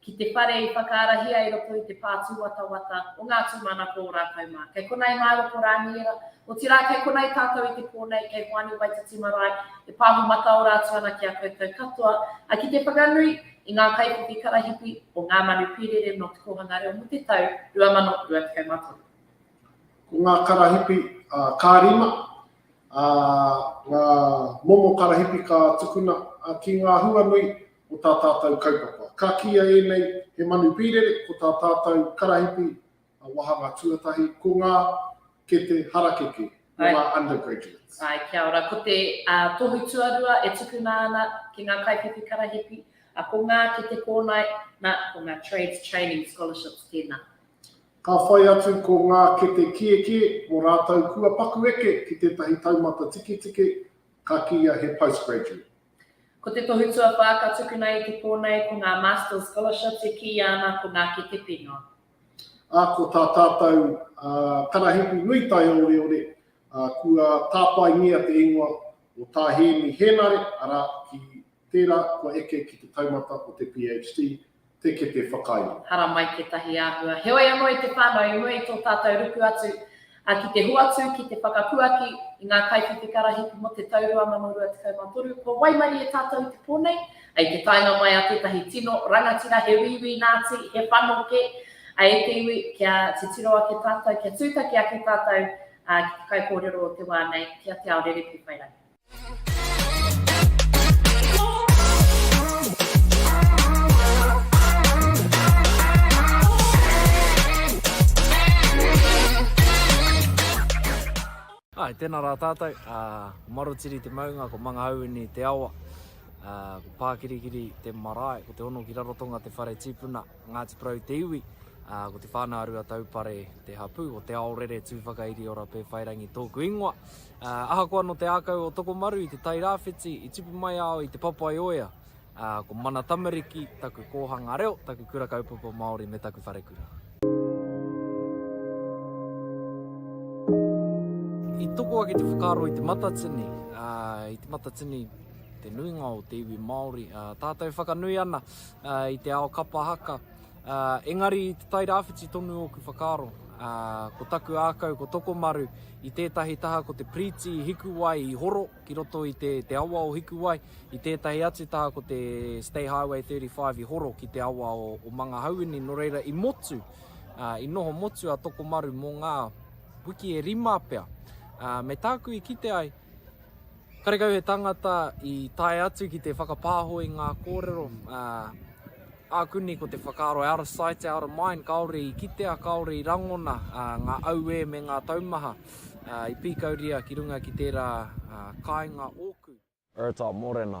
ki te whare i whakaarahia i roto i te pā tūwatawata o ngā tūmanako o rātou mā. Kei konā i Māero ko Rāniera, otirā kei konā i tātou i te pō nei, kei Hoani Waititi Marae, e pāho mataora atu ana ki a koutou katoa, ā, ki te whakanui i ngā kaiwhiwhi karahipi o Ngā Manu Pīrere nō Te Kōhanga Reo mō te tau 2023. Ko ngā karahipi, ā, ka rima, ā, ngā momo karahipi ka tukuna, ā, ki ngā huanui o tā tātou kaupapa. Ka kīia ēnei he manu pīrere, ko tā tātou karahipi wāhanga tuatahi, ko ngā kete harakeke, ko ngā undergraduates. Āe, kia ora. Ko te tohu tuarua e tukuna ana ki ngā kaiwhiwhi karahipi, ko ngā kete kōnae, nā, ko ngā trades training scholarships tēnā. Ka whai atu ko ngā kete kiekie mō rātou kua paku eke ki tētahi taumata tiketike, ka kīia he postgraduate. Ko te tohu tuawhā ka tukuna i te pō nei ko ngā Masters Scholarships e kīia ana ko ngā kete pīnga. Ā, ko tā tātou karahipi nui taioreore, kua tāpaengia te ingoa o Tā Hēmi Hēnare, arā, ki tērā kua eke ki te taumata o te PHD, te kete whakairo. Haramai tētahi āhua. Heoi anō i te whānau, i mua i tō tātou ruku atu, ā, ki te hoatu, ki te whakapuaki i ngā kaiwhiti karahipi mō te tau 2023, kua waimarie tātou i te pō nei, ā, i te taenga mai a tētahi tino rangatira he wīwī Nāti, he whanokē, ā, e te iwi, kia titiro ake tātou, kia tūtaki ake tātou, ā, ki te kaikōrero o te wā nei, ki a Te Ao Rerewhi whai rangi. Hai, tēnā rā tātou, uh, ko Marotiri te maunga, ko Mangahauini te awa, uh, ko Pākirikiri te marae, ko Te Hono ki Rarotonga te whare tīpuna. Ko Ngāti Porou te iwi, ā, ko Te Whānau-a-Ruataupare te hapū. Ko Te Aorere Tūwhakairiora Pēwhairangi tōku ingoa. Ā, ahakoa nō te ākau o Tokomaru i te Tai Rāwhiti, i tipu mai au i Te Papaioea. Ā, ko Mana Tamariki taku kōhanga reo, taku kura kaupapa Māori me taku wharekura. I toko ake te whakaaro i Te Matatini, ā, i Te Matatini te nuinga o te iwi Māori, ā, tātou whakanui ana, i te ao kapa haka. Engari i Te Tai Rāwhiti tonu ōku whakaaro. Ko taku ākau ko Tokomaru i tētahi taha ko te piriti i Hikuwai i horo ki roto i te te awa o Hikuwai, i tētahi atu taha ko te State Highway 35 i horo ki te awa o o Mangahauini nō reira i motu i noho motu a Tokomaru mō ngā wiki e rima pea. Me tāku i kite ai Karekau he tangata i tae atu ki te whakapāho i ngā kōrero, ā, āku nei ko te whakaaro out of sight, out of mind, kāore i kitea, kāore i rangona ngā auē me ngā taumaha i pīkauria ki runga ki tērā kāinga ōku. Bertha Morena,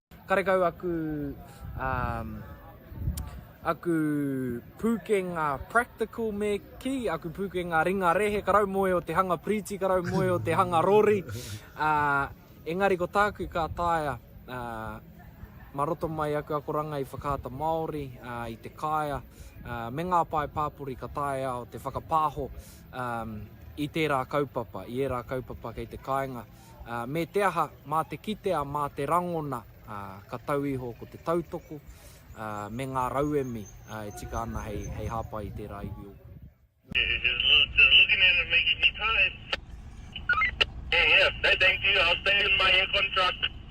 Karekau aku um aku pūkenga practical me kī, aku pūkenga ringa rehe, ka raumoe o te hanga piriti, ka raumoe o te hanga rori, uh, engari ko tāku ka taea uh, mā roto mai aku akoranga i Whakaata Māori, uh, i te kāea, uh, me ngā pae pāpori ka taea au te whakapāho um, i tērā kaupapa, i ērā kaupapa kei te kāinga. Me te aha, mā te kitea, mā te rangona, ka tau iho ko te tautoko me ngā rauemi e tika ana hei hāpai i tērā iwi o Waikato.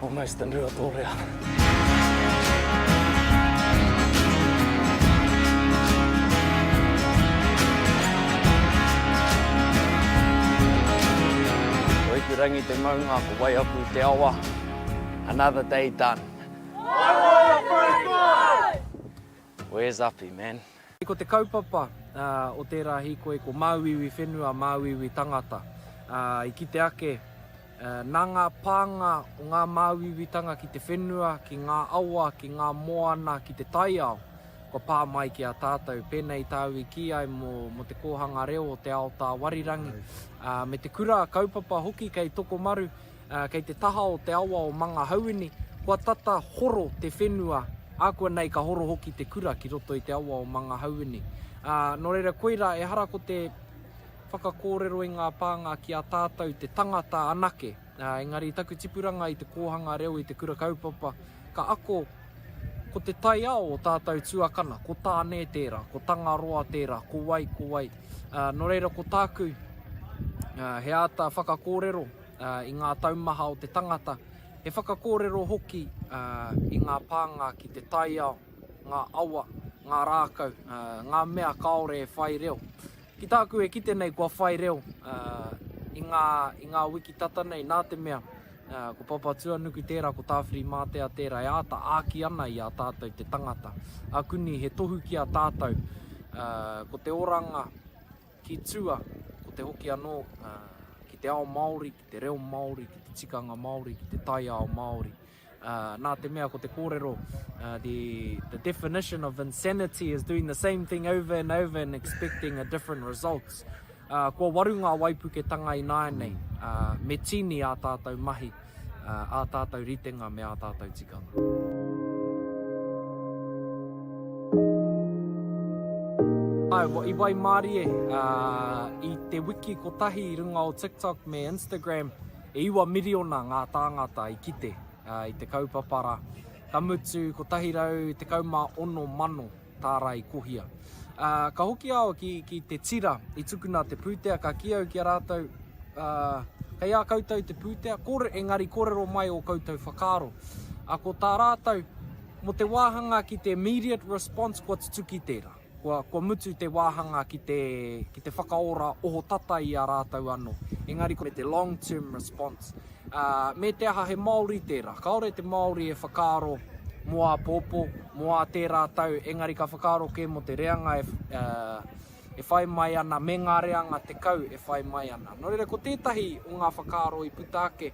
Almost a Rua Tōrea. rangi te maunga, ko wai aku te awa. Another day done. Where's Api, man? Ko te kaupapa o tērā hīkoi ko māuiui whenua, māuiui tangata. I kite ake, nā ngā pānga o ngā māuiuitanga ki te whenua, ki ngā awa, ki ngā moana, ki te taiao, kua pā mai ki a tātou. Pēnei i tāu i kī ai mō te kōhanga reo o te ao tāwarirangi, me te kura kaupapa hoki kei Tokomaru, Kei te taha o te awa o Mangahauini, kua tata horo te whenua, ākuanei ka horo hoki te kura ki roto i te awa o Mangahauini. Nō reira, koirā, ehara ko te whakakōrero i ngā pānga ki a tātou te tangata anake, engari i taku tipuranga i te kōhanga reo i te Kura Kaupapa, ka ako ko te taiao o tātou tuakana, ko Tāne tērā, ko Tangaroa tērā, ko wai, ko wai. Nō reira, ko tāku, he āta whakakōrero, i ngā taumaha o te tangata, he whakakōrero hoki i ngā pānga ki te taiao, ngā awa, ngā rākau, ngā mea kāore e whai reo. Ki tāku e kite nei kua whai reo i ngā, i ngā wiki tata nei nā te mea ko Papatuanuku tērā, ko Tāwhirimātea tērā e āta āki ana i a tātou te tangata. Akuni he tohu ki a tātou ko te oranga Ki tua, ko te hoki anō ki te ao Māori, ki te reo Māori, ki te tikanga Māori, ki te taiao Māori. Nā te mea ko te kōrero, the definition of insanity is doing the same thing over and over and expecting a different result. Kua waru ngā waipuketanga ināianei, me tīni ā tātou mahi. ā tātou ritenga me ā tātou tikanga. I waimarie i te wiki kotahi i runga o TikTok me Instagram, e iwa miriona ngā tāngata i kite i te kaupapa rā, ka mutu 116 mano. tārai kohia. Ā, ka hoki au ki, ki te tira i tukuna te pūtea, ka kī au ki a rātou, ā, kei a koutou te pūtea, kore, engari korero mai o koutou whakaaro. Ā, ko tā rātou, mo te wāhanga ki te immediate response, kua tutuki tērā. Kua, kua mutu te wāhanga ki te, ki te whakaora ohotata i a rātou anō. Engari ko te long term response, Me te aha he Māori tērā. Kāore te Māori e whakaaro mō āpōpō, mō ā tērā tau, engari ka whakaaro kē mō te reanga e whai mai ana, me ngā reanga tekau e whai mai ana. Nō reira, ko tētahi o ngā whakaaro i puta ake,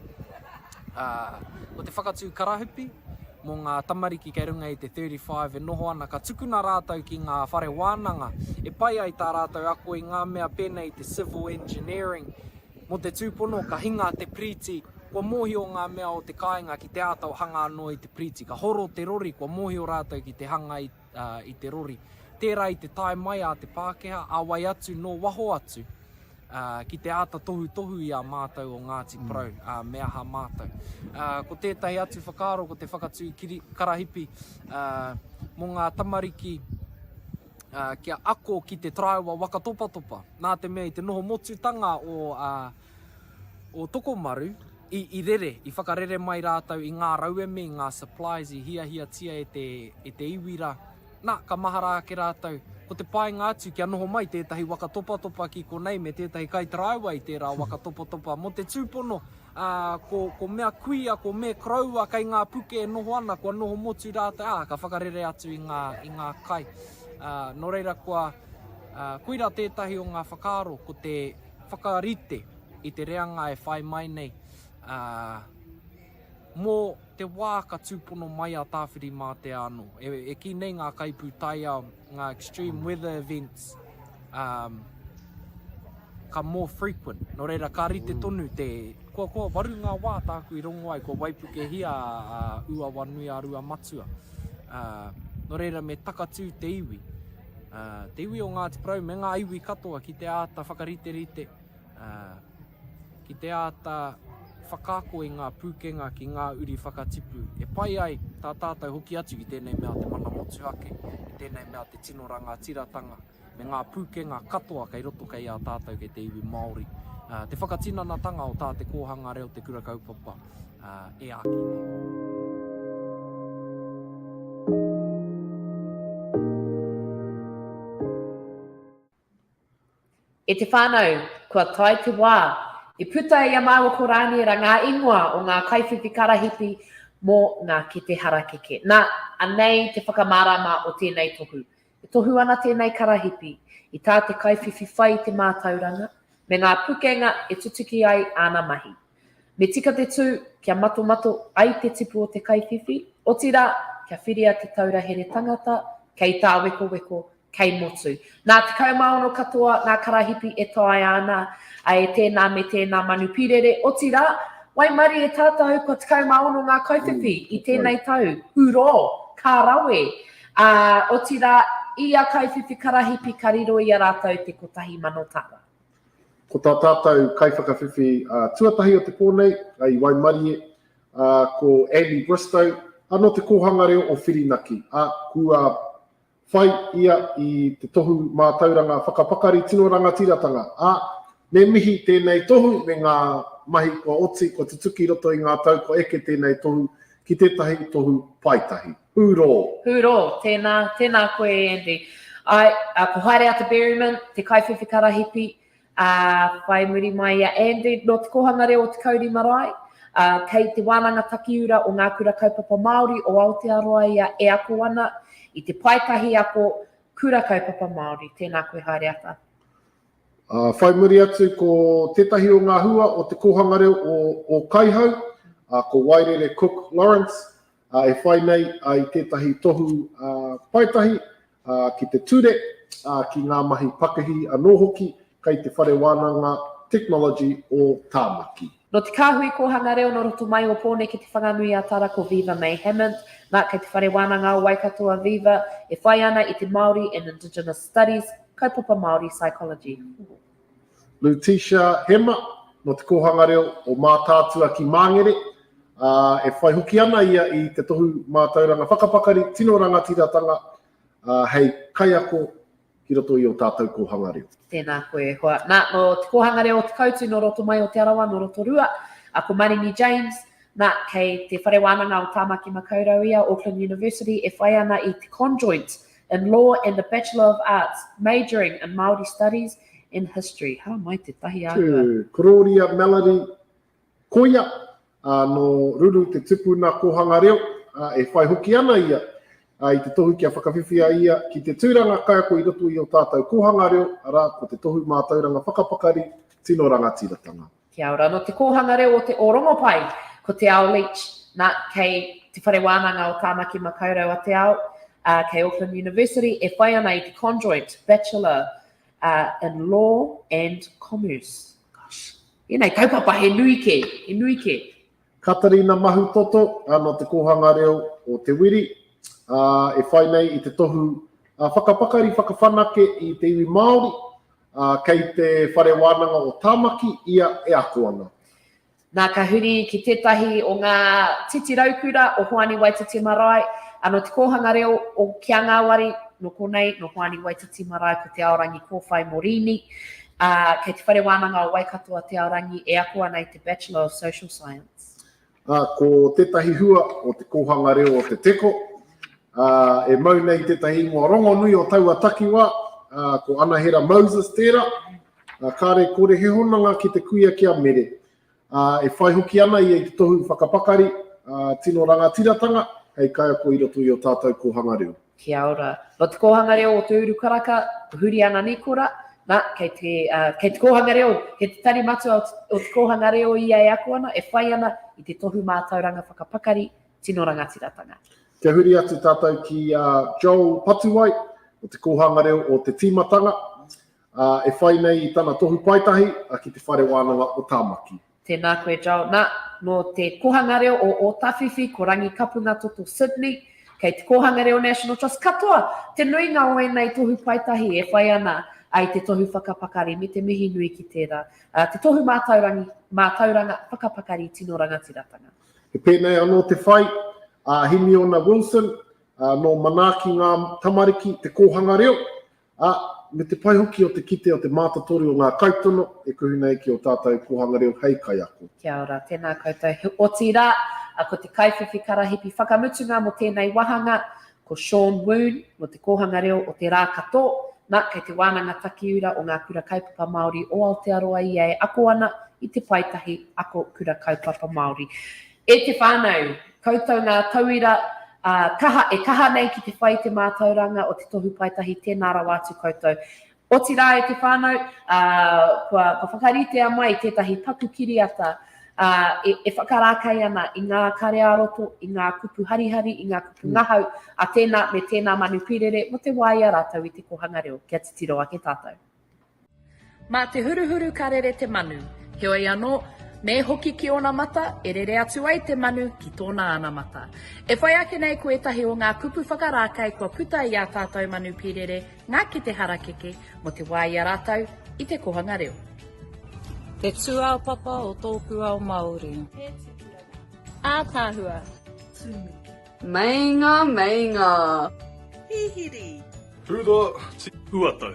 ko te whakatū karahupi mō ngā tamariki kei runga i te 35 e noho ana, ka tukuna rātou ki ngā whare wānanga e pai ai tā rātou ako i ngā mea pēnei i te civil engineering, Mō te tūpono, ka hinga te piriti, kua mōhio ngā mea o te kāinga ki te āta hanga anō i te piriti. Ka horo te rori, kua mōhio rātou ki te hanga i te rori. Tērā i te tae mai a te Pākehā, a wai atu, nō waho atu, ki te āta tohutohu i a mātou o Ngāti Porou, ā, me aha mātou. Ko tētahi atu whakaaro ko te whakatū karahipi mō ngā tamariki kia ako ki te taraiwa waka topatopa, nā te mea i te noho motutanga o, a, o Tokomaru, i, i rere, i whakarere mai rātou i ngā rauemi, i ngā supplies i hiahiatia e te, e te iwi rā. Nā, ka mahara ake rātou, ko te painga atu kia noho mai tētahi waka topatopa ki konei me tētahi kaitaraiwa i tērā waka topatopa mō te tūpono Ā, ko, ko mea kuia, ko me koroua kei ngā puke e noho ana, kua noho motu rātou, ā, ka whakarere atu i ngā, i ngā kai. Ā, nō reira kua, ā, koira tētahi o ngā whakaaro, ko te whakarite i te reanga e whai mai nei, ā, mō te wā ka tūpono mai a Tāwhirimātea anō. E, e kī nei ngā kaipūtaiao, Ngā extreme weather events um, ka more frequent. Nō reira, ka rite mm. tonu te... Kua, kua waru ngā wā tāku i rongo ai, kua waipukehia a uh, Uawa Nui a Rua Matua. Uh, nō reira, me takatū te iwi. Uh, te iwi o Ngāti Porou me ngā iwi katoa ki te āta whakariterite ā, ki te āta whakaako i ngā pūkenga ki ngā uri whakatipu e pai ai tā tātou hoki atu i tēnei mea te mana motuhake, i tēnei mea te tino rangatiratanga me ngā pūkenga katoa kei roto kei a tātou kei te iwi Māori, ā, te whakatinanatanga o tā te kōhanga reo te kura kaupapa, ā, e āki nei. E te whānau, kua tae te wā i puta i a māua ko Rāniera ngā ingoa o ngā kaiwhiwhi karahipi mō ngā kete harakeke. Nā, anei te whakamārāma o tēnei tohu. E tohu ana tēnei karahipi i tā te kaiwhiwhi whai i te mātauranga me ngā pukenga e tutuki ai āna mahi. Me tika te tū kia matomato ai te tipu o te kaiwhiwhi, otirā, kia whiria te taura here tangata kei tāwekoweko kei motu. Nā 16 katoa ngā karahipi e taea ana e tēnā me tēnā manu pīrere, otirā, waimarie e tātou kua 16 ngā kaiwhiwhi i tēnei tau, ūrō, ka rawe, ā, otirā, i ia kaiwhiwhi karahipi ka riro i a rātou te 1,000 tara. Ko tā tātou kaiwhakawhiwhi tuatahi o te pō nei, i waimarie, ko Andy Bristow, nō te Kōhanga Reo o Whirinaki, ā, kua whai ia i te tohu mātauranga whakapakari tino rangatiratanga, ā, me mihi tēnei tohu me ngā mahi kua oti, kua tutuki i roto i ngā tau kua eke tēnei tohu ki tētahi tohu paetahi. Hūrō! Hūrō! Tēnā, tēnā koe e Andy. Āe, ko Haereata Berryman, te kaiwhiwhi karahipi, Ā, whai muri mai i a Andy, nō Te Kōhanga Reo o Te Kauri Marae, ā, kei Te Wānanga Takiura o Ngā Kura Kaupapa Māori o Aotearoa ia e ako ana i te paetahi ako Kura Kaupapa Māori. Tēnā koe haere ata. Ā, whai muri atu ko tētahi o ngā hua o Te Kōhanga Reo o Ōkaihau, ā, ko Wairere Cook Lawrence, ā, e whai nei i tētahi tohu paetahi ā, ki te ture, ā, ki ngā mahi pakihi anō hoki kei Te Whare Wānanga Technology o Tāmaki. Nō Te Kāhui Kōhanga Reo nō roto mai o Pōneke Te Whanganui-a-Tara ko Viva May Hammond, nā, kei Te Whare Wānanga o Waikato a Viva, e whai ana i te Māori and Indigenous Studies, Kaupapa Māori Psychology. Lutetia Hema, nō Te Kōhanga Reo o Mātaatua ki Māngere, ā, e whai hoki ana ia i te tohu mātauranga whakapakari tino rangatiratanga hei kaiako ki roto i ō tātou kōhanga reo. Tēnā koe e hoa. Nā, nō Te Kōhanga Reo o Te Koutu, nō roto mai o Te Arawa, nō Rotorua, a ko Maringi James, nā, kei Te Whare Wānanga o Tāmaki Makaurau ia, Auckland University, e whai ana i te Conjoint in Law and the Bachelor of Arts, majoring in Māori Studies and History. Hara mai tētahi āhua. Tū, Korōria Melody Koia, ā, nō Ruru te tupuna kōhanga reo, ā, e whai hoki ana ia ā, i te tohu kia whakawhiwhia ia ki te tūranga kaiako i roto i ō tātou kōhanga reo, arā, ko te Tohu Mātauranga Whakapakari Tino Rangatiratanga. Kia ora. Nō Te Kōhanga Reo o Te Ōrongopai ko Te Ao Leach. Nā, kei Te Whare Wānanga o Tāmaki Makaurau a Te Ao, ā, kei Auckland University e whai ana i te Conjoint Bachelor in Law and Commerce. Gosh. Ēnei kaupapa he nui kē, he nui kē. Katarina Mahutoto, ā, nō Te Kōhanga Reo o Te Wiri, ā, e whai nei i te tohu whakapakari whakawhanake i te iwi Māori, ā, kei te whare wānanga o Tāmaki ia e ako ana. Nā, ka huri ki tētahi o ngā titi raukura o Hoani Waititi Marae, ā, nō te kōhanga reo o Ki a Ngāwari, nō konei, nō Hoani Waititi Marae ko Te Aorangi Kōwhai Morini, ā, kei te whare wānanga o Waikato a Te Aorangi e ako ana i te Bachelor of Social Science. Ā, ko tētahi hua o te kōhanga reo o Te Teko, ā, e mau nei tētahi ingoa rongonui o taua takiwā, ā, ko Anahera Moses tērā, ā, kāre kore he hononga ki te kuia ki a Mere, ā, e whai hoki ana ia i te tohu whakapakari, ā, tino rangatiratanga hei kaiako i roto i ō tātou kōhanga reo. Kia ora. No Te Kōhanga Reo o Te Uru Karaka, ko Huriana Nikora. Na, kei te, uh, kei te kōhanga reo, kei te tari matua o, o te kōhanga reo ia e ako ana, e whai ana i te tohu mātauranga whakapakari tino rangatiratanga. Kia huri atu tātou ki a uh, Joel Patuwai, o te kōhanga reo o te tīmatanga, uh, e whai nei i tana tohu paetahi uh, ki te whare wānanga o Tāmaki. Tēnā koe Joel. Nā, nō te Kōhanga Reo o Ōtawhiwhi, ko Rangikapunga Toto Sydney, kei te Kōhanga Reo National Trust, katoa te nuinga o ēnei tohu paetahi e whai ana ai te tohu whakapakari me te mihi nui ki tērā, te tohu mātaurangi, mātauranga whakapakari tino rangatiratanga. He pēnei anō te whai a Himiona Wilson, nō Manaaki Ngā Tamariki te kōhanga reo, ā, me te pai hoki o te kite o te mātotoru o ngā kaitono e kuhu nei ki ō tātou kōhanga reo hei kaiako. Kia ora, tēnā koutou, he otirā, ko te kaiwhiwhi karahipi whakamutunga mō tēnei wāhanga, ko Sean Woon, mō te kōhanga reo o Te Rākatō, nā, kei te Wānanga Takiura o Ngā Kura Kaupapa Māori o Aotearoa ia e ako ana i te paetahi Ako Kura Kaupapa Māori. E te whānau, koutou ngā tauira kaha e kaha nei ki te whai i te mātauranga o te Tohu Paetahi, tēnā rawa atu koutou. Otirā e te whānau, kua whakaritea mai tētahi paku kiriata e whakarākei ana i ngā kare-ā-roto, i ngā kupu harihari, i ngā kupu ngahau a tēnā me tēnā manu pīrere mō te wā i a rātou i te kōhanga reo. Kia titiro ake tātou. Mā te huruhuru ka rere te manu, heoi anō, me hoki ki ōna mata, e rere atu ai te manu ki tōna anamata. E whai ake nei ko ētahi o ngā kupu whakarākei kua puta i ā tātou manu pīrere ngā kete harakeke mō te wā i a rātou i te kōhanga reo. Te tūāpapa o tōku ao Māori. He tupuranga. Ātaahua. Tūmiki. Meinga, meinga. Hihiri. Hura, ti. Uatau.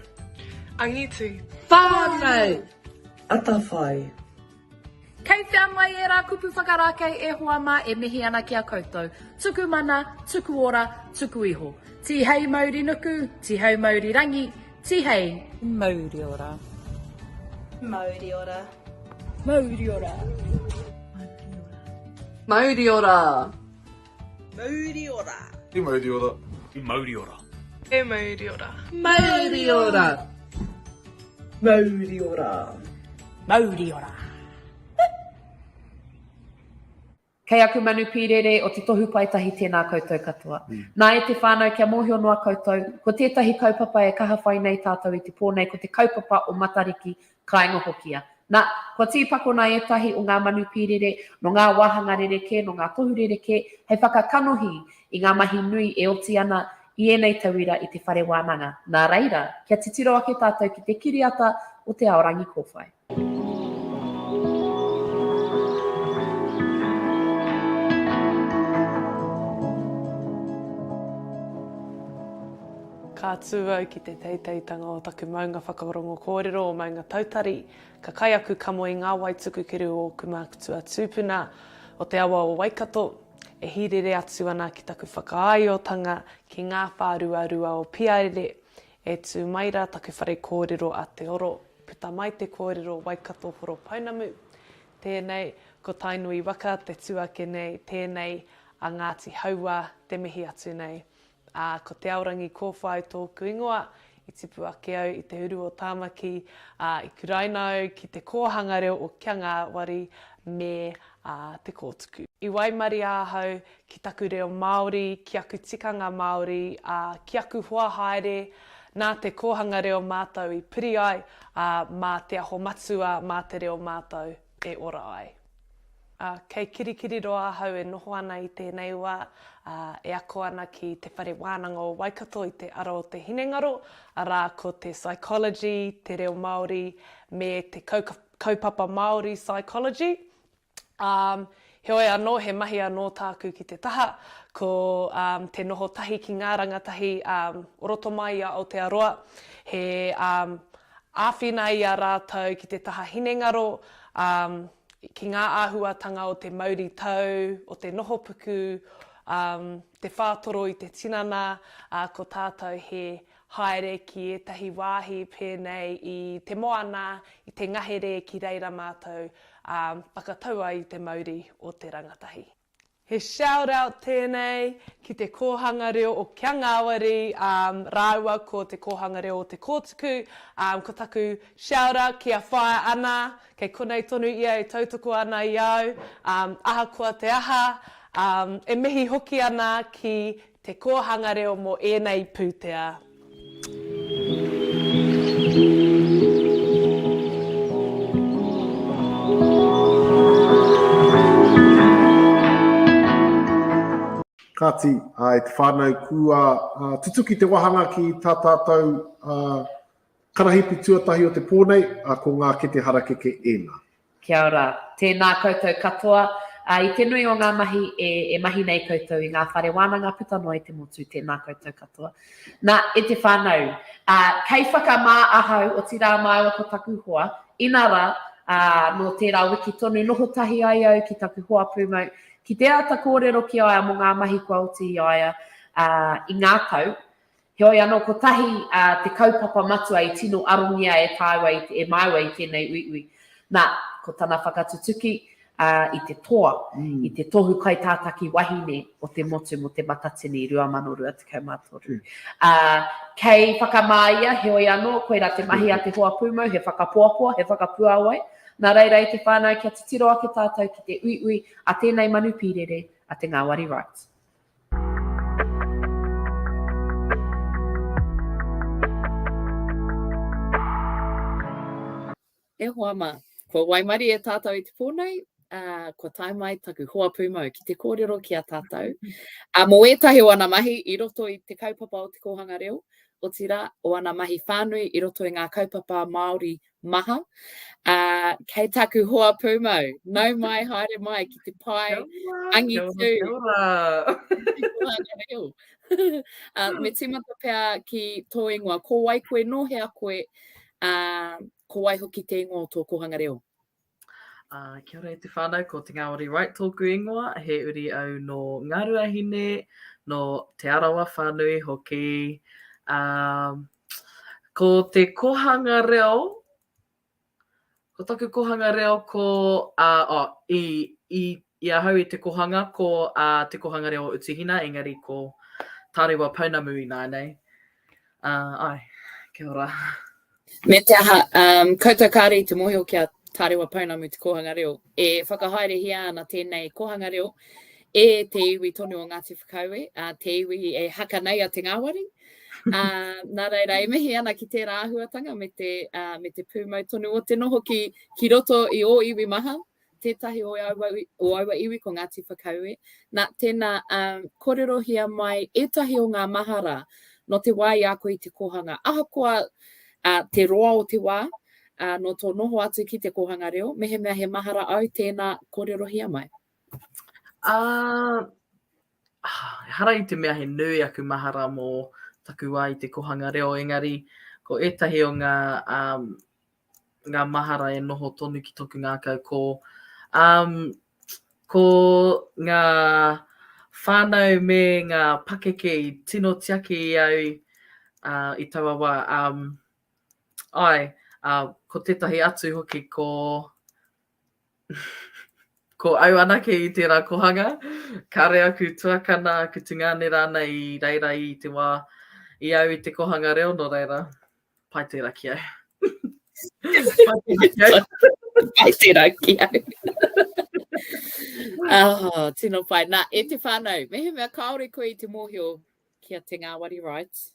Angitu. Whanau. Atawhai. Kei whea mai era kupu whakarakei e hoa ma e mihi ana ki a koutou. Tuku mana, tuku ora, tuku iho. Tihei mauri nuku, tihei mauri rangi, tihei. Mauri ora. Mauri ora. Mauri ora. Mauri ora. Mauri ora. He mauri ora. He mauri ora. He mauri ora. Mauri ora. Mauri ora. Mauri ora. Kei aku manu pīrere o te tohu paetahi tēnā koutou katoa. Mm. Nā e te whānau kia mōhio noa koutou, ko tētahi kaupapa e kaha whai nei tātou i te pō nei ko te kaupapa o Matariki Kāinga hoki ia. Nā, kua tīpakona ētahi o ngā manu pīrere, nō ngā wāhanga rerekē, nō ngā tohu rerekē, hei whakakanohi i ngā mahi nui e oti ana i ēnei tauira i te whare wānanga. Nā reira, kia titiro ake tātou ki te kiriata o te ao rangi kōwhai. Ka tū au ki te teiteitanga o taku maunga whakarongo kōrero o Maunga Tautari, ka kai aku kamo i ngā wai tukukiru o ōku mākutua tūpuna o te awa o Waikato, e hīrere atu ana ki taku whakaāiotanga ki ngā whāruarua o Piaere, e tū mai rā taku whare kōrero a Te Oro, puta mai te kōrero Waikato Horopounamu, tēnei, ko Tainui waka te tū ake nei, tēnei, a Ngāti Hauā, te mihi atu nei. Ā, ko Te Aorangi Kōwhai tōku ingoa. I tipu ake au i te uru o Tāmaki, ā, i kuraina au ki te kōhanga reo o Kia Ngāwari me ā, Te Kōtuku. I waimaria ahau ki taku reo Māori, ki aku tikanga Māori, ā, ki aku hoa haere, nā te kōhanga reo mātou i piri ai, ā, mā Te Aho Matua, mā te reo mātou. e ora ai. Ā, kei Kirikiriroa ahau e noho ana i tēnei wā, ā, e ako ana ki Te Whare Wānanga o Waikato i te ara o te hinengaro, arā, ko te Psychology, Te Reo Māori, me te Kaupapa Māori Psychology. Ā, heoi anō, he mahi anō tāku ki te taha, ko te noho tahi ki ngā rangatahi o roto mai i a Aotearoa, he Āwhina i a rātou ki te taha hinengaro, ā, ki ngā āhuatanga o te mauritau, o te nohopuku, ā, te whātoro i te tinana, ā, ko tātou he haere ki ētahi wāhi pēnei i Te Moana, i te ngahere ki reira mātou, ā, whakatau ai i te mauri o te rangatahi. He shout out tēnei ki te Kōhanga Reo o Kia Ngāwari rāua ko te Kōhanga Reo o Te Kōtuku, ko taku shout out ki a Whaea Ana, kei konei tonu ia e tautoko ana i au, ahakoa te aha, e mihi hoki ana ki Te Kōhanga Reo mō ēnei pūtea. Kāti, e te whānau, kua tutuki te wāhanga ki tā tātou Karahipi tuatahi o te pō nei, ā, ko ngā kete harakeke ēnā. Kia ora. Tēnā koutou katoa. Ā, i te nui o ngā mahi e, e mahi nei koutou i ngā whare wānanga puta noa i te motu, tēnā koutou katoa. Nā, e te whānau, ā, kei whakamā ahau, otirā māua ko taku hoa, inarā, ā, nō tērā wiki tonu noho tahi ai au ki taku hoa pūmau, ki te āta kōrero ki a ia mō ngā mahi kua oti i a ia, ā, i ngā tau, Heoi anō, kotahi te kaupapa matua i tino arongia e tāua, e māua i tēnei uiui. Nā, ko tana whakatutuki i te toa, i te tohu kaitātaki wahine o te motu mō Te Matatini 2023. Kei whakamā ia, heoi anō, koirā te mahi a te hoa pūmau, he whakapoapoa, he whakapuāwai. Nā reira e te whānau kia titiro ake tātou ki te uiui a tēnei manu pīrere, a te ngāwari Wright. E hoa ma. Kua waimari e tātou i te pō nei, uh, kua tae mai taku hoa pūmau ki te kōrero ki a tātou. Uh, mō ētahi o ana mahi i roto i te kaupapa o te kōhanga reo, o tira o ana mahi whānui i roto i ngā kaupapa Māori maha. Ā, kei taku hoa pūmau, nau mai, haere mai ki te pae angitu. Ā, me tīmata pea ki tō ingoa, ko wai koe, nō hea koe, ā, ko wai hoki te ingoa o tō kōhanga reo? Uh, kia ora e te whānau, ko Te Ngāwari Wright tōku ingoa, he uri au nō Ngāruahine, nō Te Arawa whānui hoki. Um, ko te kohanga reo, ko taku kohanga reo ko, uh, oh, i, i I ahau i Te Kohanga, ko a Te Kohanga Reo o Utuhina, engari ko Tarewa Pounamu ināianei. Ae, kia ora. Me te aha, um, koutou kāre i te mōhio ki a Tarewa Pounamu te kōhanga reo. E whakahaerehia ana tēnei kōhanga reo e te iwi tonu o Ngāti Whakaue, a te iwi e haka nei a te ngāwari. A, nā reira, e mihi ana ki tērā āhuatanga me te, uh, me te pūmau tonu o te noho ki, ki roto i o iwi maha, Tētahi o aua, o aua iwi ko Ngāti Whakaue. Nā, tēnā, um, kōrerohia mai ētahi o ngā mahara no te wā i a koe i te kōhanga. Ahakoa uh, te roa o te wā, uh, no tō noho atu ki te kōhanga reo, mehemea he mahara au, tēnā, kōrerohia mai. Uh, hara i te mea he nui aku mahara mō taku wā i te kōhanga reo, engari ko ētahi o ngā um, ngā mahara e noho tonu ki toku ngākau ko um, ko ngā whānau me ngā pakeke i tino tiaki i au uh, i taua wā. Um, ai, uh, ko tētahi atu hoki ko ko au anake i tērā kohanga, kare aku tuakana, aku tungāne rāna i reira i te wā i au i te kohanga reo no reira. Pai tērā ki au. Pai tērā ki au. oh, tino pai. Nā, e te whānau, mehemea kāore koe i te mōhio ki a Te Ngāwari Wright.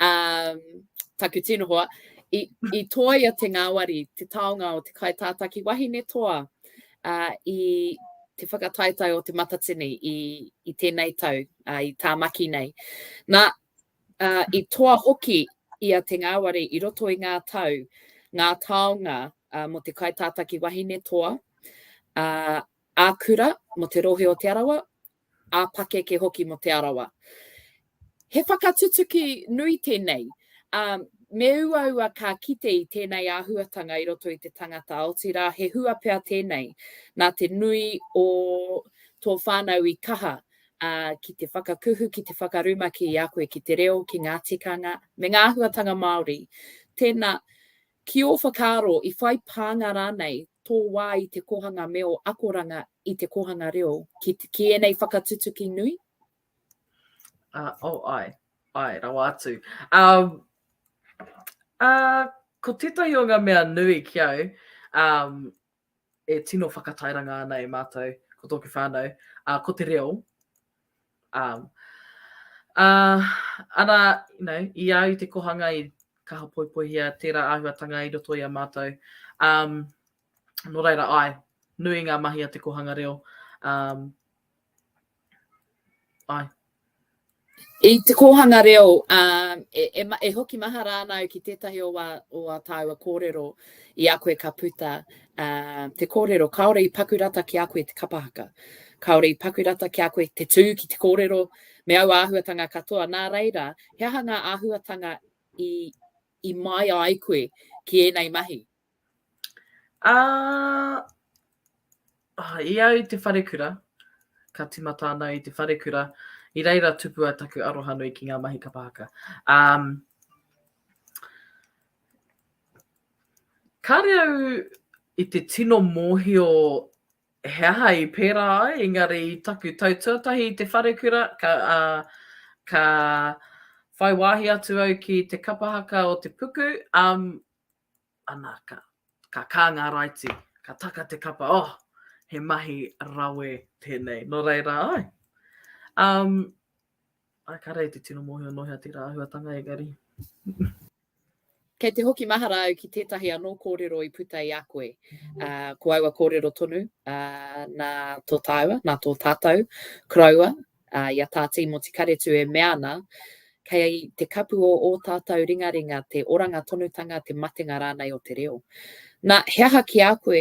Um, taku tino hoa, i, i toa i a Te Ngāwari te taonga o te kai tātaki wahine toa uh, i te whakataetae o te matatini i, i tēnei tau, uh, i tāmaki nei. Nā, ā, i toa hoki i a Te Ngāwari i roto i ngā tau ngā taonga mō te kaitātaki wahine toa, ā, ā-kura mō te Rohe o Te Arawa, ā-pakeke hoki mō Te Arawa. He whakatutuki nui tēnei, ā, me uaua ka kite i tēnei āhuatanga i roto i te tangata, otirā he hua pea tēnei nā te nui o tō whānau i kaha ā, ki te whakakuhu, ki te whakarumaki i a koe ki te reo, ki ngā tikanga, me ngā āhuatanga Māori. Tēnā, ki ō whakaaro, i whai pānga rānei tō wā i te kōhanga me ō akoranga i te kōhanga reo ki, ki ēnei whakatutuki nui? Uh, oh, ai, ai, rawa atu. Um, uh, ko tētahi o ngā mea nui ki au, um, e tino whakatairanga ana e mātou, ko tōku whānau, ā, ko te reo. Ā, ā, arā, you know, i a au i te kohanga i kaha poipoihia tērā āhuatanga i roto i a mātou. Um, nō reira, ai, nui ngā mahi a te kohanga reo. Um, Ai. I te kōhanga reo, um, e, e, e hoki maha rānau ki tētahi o wā, o wā tāua kōrero i a koe ka puta uh, te kōrero, kāore i pakurata ki a koe te kapahaka. Kāore i pakurata ki a koe te tū ki te kōrero, me au āhuatanga katoa. Nā reira, he aha ngā āhuatanga i, i mai ai koe ki ēnei mahi? Ā, i au i te wharekura, ka timata ana au i te wharekura, i reira tupu ai taku aroha nui ki ngā mahi kapa haka. Um, kāre au i te tino mōhio he aha i pērā ai, engari i taku tau tuatahi i te wharekura, ka, uh, ka whai wāhi atu au ki te kapahaka o te puku, um, ana, ka, ka kā ngā raiti, ka taka te kapa, oh, he mahi rawe tēnei. Nō reira, ai. Um, ai, ka rei te tino mōhio nohea tērā āhuatanga, engari. Kei te hoki mahara au ki tētahi anō kōrero i puta i a koe. Uh, ko aua kōrero tonu, uh, nā tō tāua, nā tō tātou, koroua, Ā, i a tā Tīmoti Karetu e mea ana, Kei te kapu o ō tātou ringaringa te oranga tonutanga, te matenga rānei o te reo. Nā, he aha ki a koe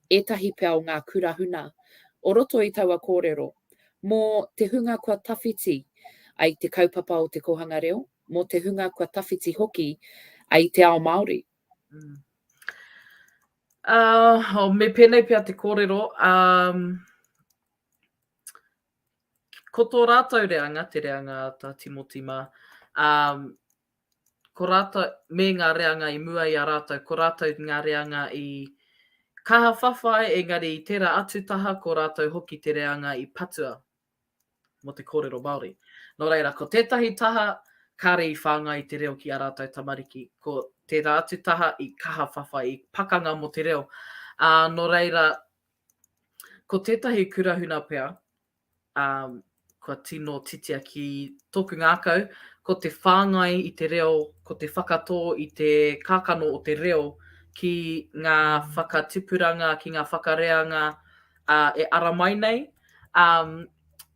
ētahi pea o ngā kura huna o roto i taua kōrero mō te hunga kua tawhiti ai te kaupapa o te kōhanga reo, mō te hunga kua tawhiti hoki ai te ao Māori? Mm. Uh, oh, me pēnei pea te kōrero, um, Ko tō rātou reanga, te reanga a tā Timoti mā, ā, ko rātou, me ngā reanga i mua i a rātou, ko rātou ngā reanga i kaha whawhai, engari i tērā atu taha ko rātou hoki te reanga i patua mō te kōrero Māori. Nō reira, ko tētahi taha kāre i whāngai te reo ki ā rātou tamariki, ko tērā atu taha i kaha whawhai, i pakanga mō te reo. Ā, nō reira, Ko tētahi kurahuna pea, ā, kua tino titia ki tōku ngākau, ko te whāngai i te reo, ko te whakatō i te kākano o te reo ki ngā whakatipuranga, ki ngā whakareanga e ara mai nei, ā,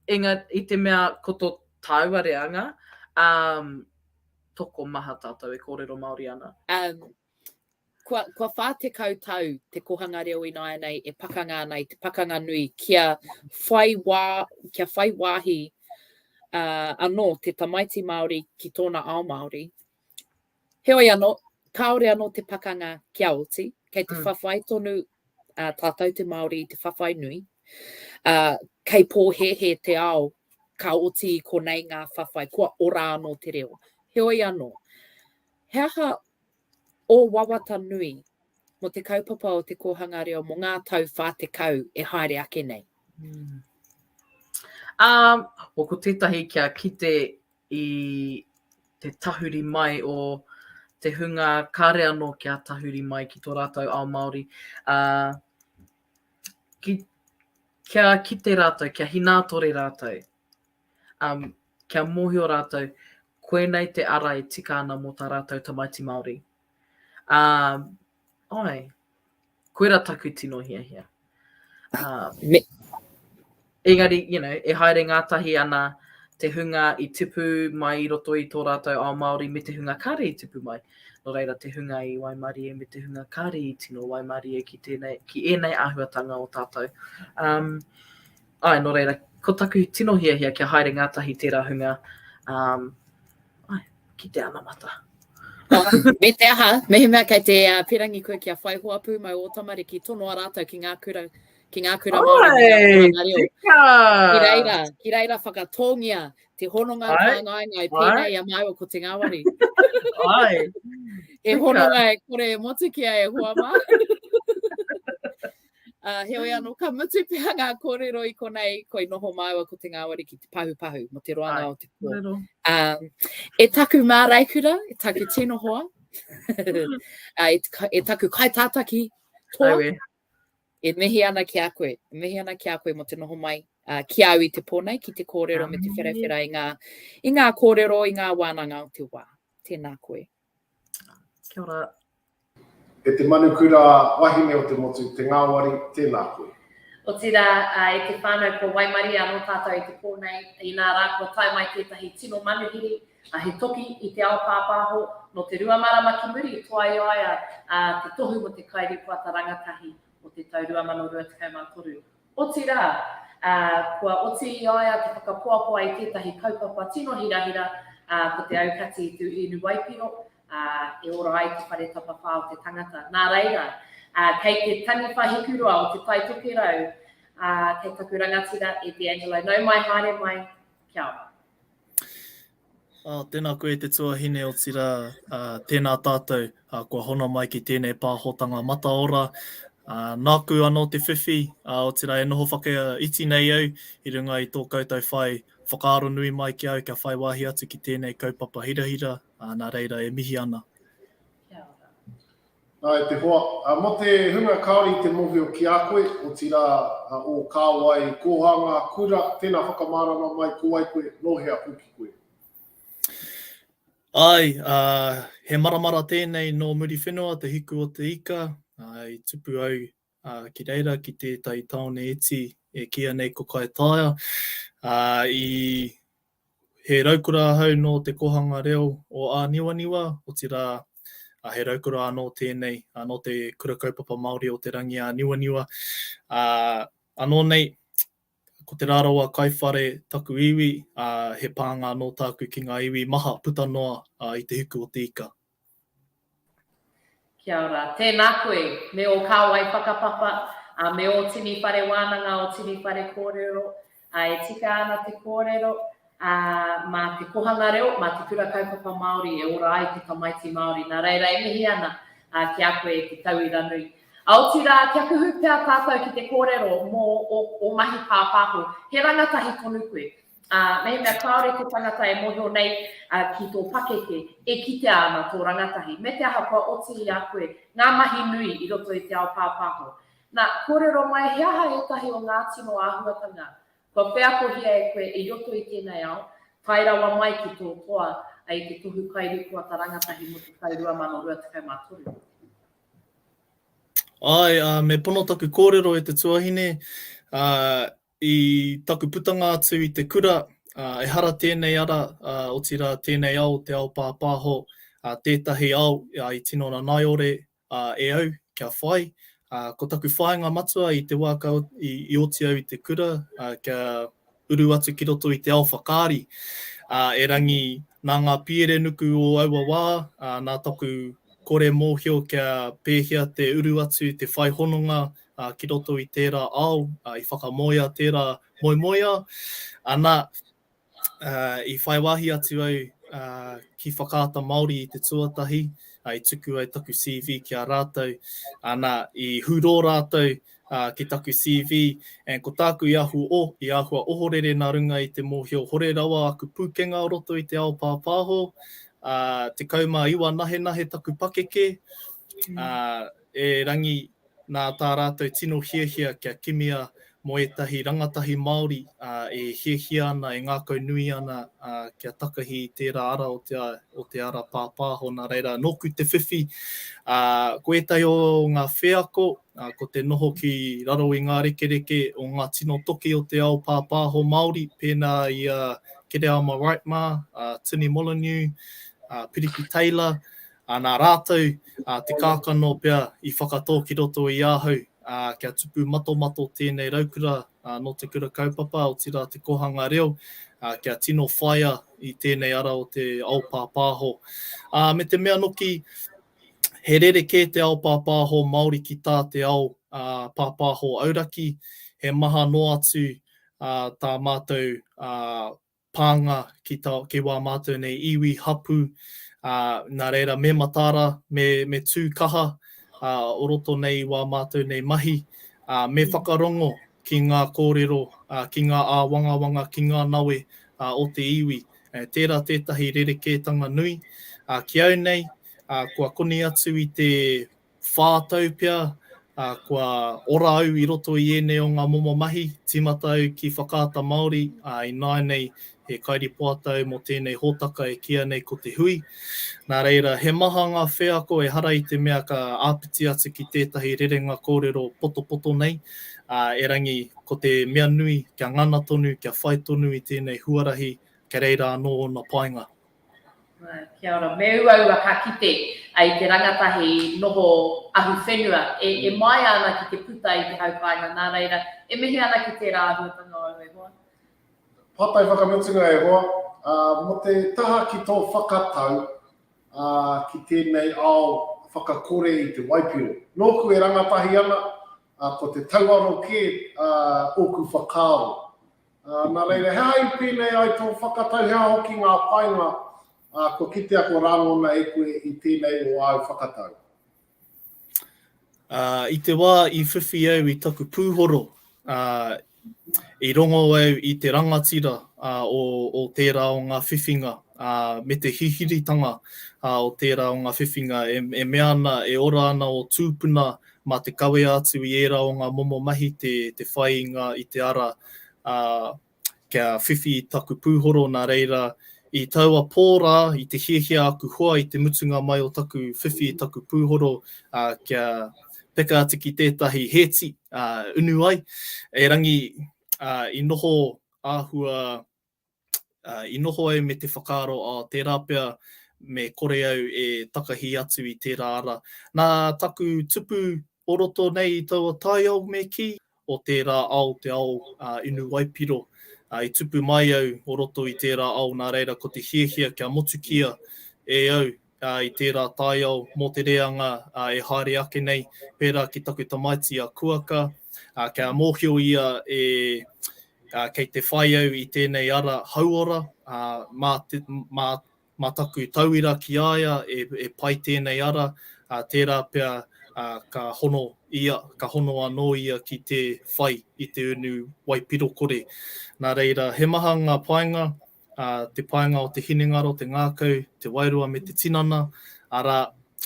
engari, i te mea ko tō tāua reanga, ā, tokomaha tātou e kōrero Māori ana. Kua, kua 40 tau te kohanga reo ināianei e pakanga ana i te pakanga nui kia whai, wā, kia whai wāhi uh, anō te tamaiti Māori ki tōna ao Māori. Heoi anō, kāore anō te pakanga kia oti, kei te mm. whawhai tonu uh, tātou te Māori i te whawhai nui. Uh, kei pōhehe te ao, ka oti i konei ngā whawhai, kua ora anō te reo. Heoi anō, He aha ō wawata nui mō te kaupapa o te kōhanga reo mō ngā tau 40 e haere ake nei? Mm. Um, o ko tētahi kia kite i te tahuri mai o te hunga kāre anō kia tahuri mai ki tō rātou ao Māori. Uh, ki, kia kite rātou, kia hinātore rātou. kia mōhio rātou koinei te ara e tika ana mō tā rātou tamaiti Māori. Ā, āe, koirā taku tino hiahia. Ā, me, engari, you know, e haere ngātahi ana te hunga i tipu mai i roto i tō rātou ao Māori me te hunga kāre i tipu mai. Nō reira te hunga i waimarie me te hunga kāre i tino waimarie ki, tēnei, ki ēnei āhuatanga o tātou. Um, Āe, nō reira, ko taku tino hiahia kia haere ngātahi tērā hunga, um, ai, ki te anamata. me te aha, mehemea kei te uh, pirangi koe kia whai hoa pūmau o tamariki, tonoa rātou ki ngā kura, ki ngā kura Māori, ki ngā reo. Ki reira, ki reira whakatōngia te hononga Ai. whāngainga i pēnei a māua ko te ngāwari. Ai. e hononga e kore e motu ki a e hoa mā. Ā, heoi anō, ka mutu pea ngā kōrero i konei, koi noho māua ko te ngāwari ki te pahupahu mō te roanga o te pō. Kōrero. Um, e taku māraikura, e taku tino hoa, uh, e, e taku kaitātaki toa, Aue. e mihi ana ki a koe, e mihi ana ki a koe mō te noho mai uh, ki au i te pō nei, ki te kōrero me te wherawhera i ngā, i ngā kōrero, i ngā wānanga o te wā. Tēnā koe. Kia ora. E te Manukura wahine o te motu, te ngāwari, tēnā koe. Otirā, e te whānau ko Waimarie anō tātou i te pō nei, inā rā kua tae mai tētahi tino manuhiri, he toki i te ao pāpāho, nō te rua marama ki muri, toaiaia te tohu mō te kairīpoata rangatahi o te tau 2023. Otirā, ā, kua oti i a ia te whakapoapoa i tētahi kaupapa tino hirahira, ā, ko te aukati i tū hinu waipiro, ā, e ora ai te whare tapawhā o te tangata. Nā reira, ā, kei te taniwha hikurua o Te Tai Tokerau, ā, kei taku rangatira e D'Angelo. Nau mai, haere mai, kia ora. Tēnā koe e te tuahine, otirā, tēnā tātou kua hono mai ki tēnei pāhotanga mataora. Nāku anō te whiwhi, otirā e noho whakaiti nei au i runga i tō koutou whai whakaaro nui mai ki a au kia whai wāhi atu ki tēnei kaupapa hirahira, nā reira e mihi ana. Kia ora. Ā, e te hoa, mō te hunga kāore i te mōhio ki a koe, otirā, ō kāwai, ko ā ngā kura, tēnā whakamārama mai, ko wai koe, nō hea hoki koe. Āe, ā, he maramara tēnei nō Muriwhenua, te hiku o te ika, ā, i tupu au ā, ki reira ki tētahi tāone iti e kīia nei ko Kaitaia, ā, i, he raukura ahau nō te kōhanga reo o Āniwaniwa, otirā, ā, he raukura anō tēnei, ā, nō te Kura Kaupapa Māori o Te Rangiāniwaniwa, ā, anō nei, ko Te Rarawa Kaiwhare taku iwi, ā, he pānga anō tāku ki ngā iwi maha puta noa, ā, i Te Huku o Te Ika. Kia ora. Tēnā koe, me ō kāwai whakapapa, ā, me ō tini whare wānanga, ō tini whare kōrero, ā, e tika ana te kōrero, ā, mā te Kohanga Reo, mā te Kura Kaupapa Māori e ora ai te tamaiti Māori. Nā reira e mihi ana, ā, ki a koe e te tauira nui. Ā, otirā, kia kuhu pea tātou ki te kōrero mō ō mahi pāpāho, he rangatahi tonu koe. Ā, mehemea kāore te tangata e mōhio nei ki tō pakeke, e kitea ana tō rangatahi, me te aha kua oti i a koe ngā mahi nui i roto i te ao pāpāho. Nā, kōrero mai he aha ētahi o ngā tino āhuatanga kua wheakohia e koe i roto i tēnei ao, tae rawa mai ki tō toa i te Tohu Kairīpoata Rangatahi mō te tau 2023. Āe, ā, me pono taku kōrero e te tuahine, ā, I taku putanga atu i te kura, ehara tēnei ara, otirā tēnei ao, te ao pāpāho, tētahi ao i tino ranaiore e au kia whai. Ko taku whāinga matua i te wā ka oti au i te kura, kia uru atu ki roto i te ao whakaari, erangi nā ngā pierenuku o aua wā, nā taku kore mōhio kia pēhea te uru atu, te whai hononga ki roto i tērā ao i whakamoea tērā moemoeā. Anā, i whai wāhi atu au ki Whakaata Māori i te tuatahi, i tuku ai taku CV ki a rātou, anā, i hurō rātou ki taku CV, and ko tāku i āhua ohorere nā runga i te mōhio hore rawa aku pūkenga o roto i te ao pāpāho, tekau mā iwa nahenahe taku pakeke, E Rangi, nā tā rātou tino hiahia kia kimia mō ētahi rangatahi Māori e hiahia ana, e ngākau nui ana kia takahi i tērā ara o te o te ara pāpāho, nā reira nōku te whiwhi ko ētahi o ngā wheako ko te noho ki raro i ngā rekereke o ngā tino toki o te ao pāpāho Māori pēnā i a Kereama Wright mā, a Tini Molyneux, a Piriki Taylor, Ā, nā rātou, ā, te kākano pea i whakatō ki roto i ahau, ā, kia tupu matomato tēnei raukura, ā, nō te Kura Kaupapa, otirā te Kōhanga Reo, ā, kia tino whaia i tēnei ara o te ao pāpāho. Ā, me te mea noki, he rerekē te ao pāpāho Māori ki tā te ao, ā, pāpāho auraki, he maha noa atu, ā, tā mātou, ā, pānga ki tā, ki wā mātou nei iwi, hapū, ā, nā reira me mataara, me, me tū kaha, ā, o roto nei i wā mātou nei mahi, ā, me whakarongo ki ngā kōrero, ā, ki ngā āwangawanga, ki ngā nawe, ā, o te iwi. E, tērā tētahi rerekētanga nui. Ā, ki au nei, ā, kua koni atu i te whā tau pea, ā, kua ora au i roto i ēnei o ngā momo mahi, tīmata au ki Whakaata Māori, ā, ināianei he kairīpoata au mō tēnei hōtaka e kīia nei ko Te Hui. Nā reira, he maha ngā wheako ehara i te mea ka āpiti atu ki tētahi rerenga kōrero potopoto nei, ā, erangi, ko te mea nui, kia ngana tonu, kia whai tonu i tēnei huarahi, kei reira anō ōna painga. Kia ora. Me uaua ka kite i te rangatahi noho ahu whenua e maea ana ki te puta i te hau paenga nā reira e mihi ana ki tērā āhuatanga o au e hoa. Papai whakamutunga e hoa, mō te taha ki tō whakatau ki tēnei ao whakakore i te waipiro. Nōku e rangatahi ana, ko te tauaro kē ōku whakaaro. Nā reira, he aha i pēnei ai tō whakatau, he aha hoki ngā painga kua kitea, kua rangona e koe i tēnei o āu whakatau? I te wā i whiwhi au i taku pūhoro, i rongo au i te rangatira o tērā o ngā whiwhinga me te hihiritanga o tērā o ngā whiwhinga e mea ana e ora ana ō tūpuna Mā te kawea atu i ērā o ngā momo mahi te whāinga i te ara, ā, kia whiwhi taku pūhoro nā reira, i taua pō rā, i te hiahia aku hoa i te mutunga mai o taku whiwhi i taku pūhoro, ā, kia peka atu ki tētahi hēti, ā, unu ai, erangi, ā, i noho āhua I noho au me te whakaaro, oh, tērā pea, me kore au e takahi atu i tērā ara. Nā taku tupu o roto nei i taua taiao me kī, o tērā ao te ao inu waipiro. I tupu mai au o roto i tērā ao nā reira ko te hiahia kia motukia e au i tērā taiao mō te reanga e haere ake nei, pērā ki taku tamaiti a Kuaka, kia mōhio ia e, kei te whai au i tēnei ara hauora, mā, mā, mā taku tauira ki a ia e, e pai tēnei ara, tērā pea ka hono ia, ka hono anō ia ki te whai i te unu waipirokore. Nā reira, he maha ngā painga, ā, te painga o te hinengaro, te ngākau, te wairua me te tinana, arā,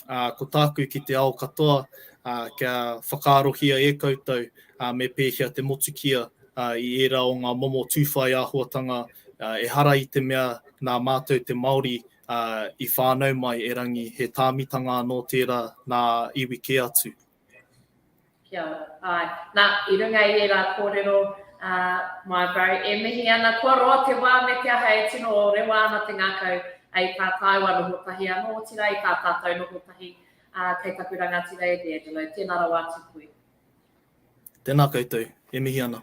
ā, ko tāku ki te ao katoa, ā, kia whakaarohia e koutou, ā, me pēhea te motukia, ā, i ērā o ngā momo tūwhai āhuatanga, ā, ehara i te mea nā mātou te Māori, ā, i whānau mai erangi, he tāmitanga anō tērā nā iwi kē atu. Kia ora. Āe. Nā, i runga i ērā kōrero, ā, my bro, e mihi ana kua roa te wā me te aha e tino rewa ana te ngākau, ā, i tā tāua noho tahi anō, otirā i tā tātou noho tahi, ā, kei taku rangatira e D'Angelo. Tēnā rawa atu koe. Tēnā koutou. E mihi ana.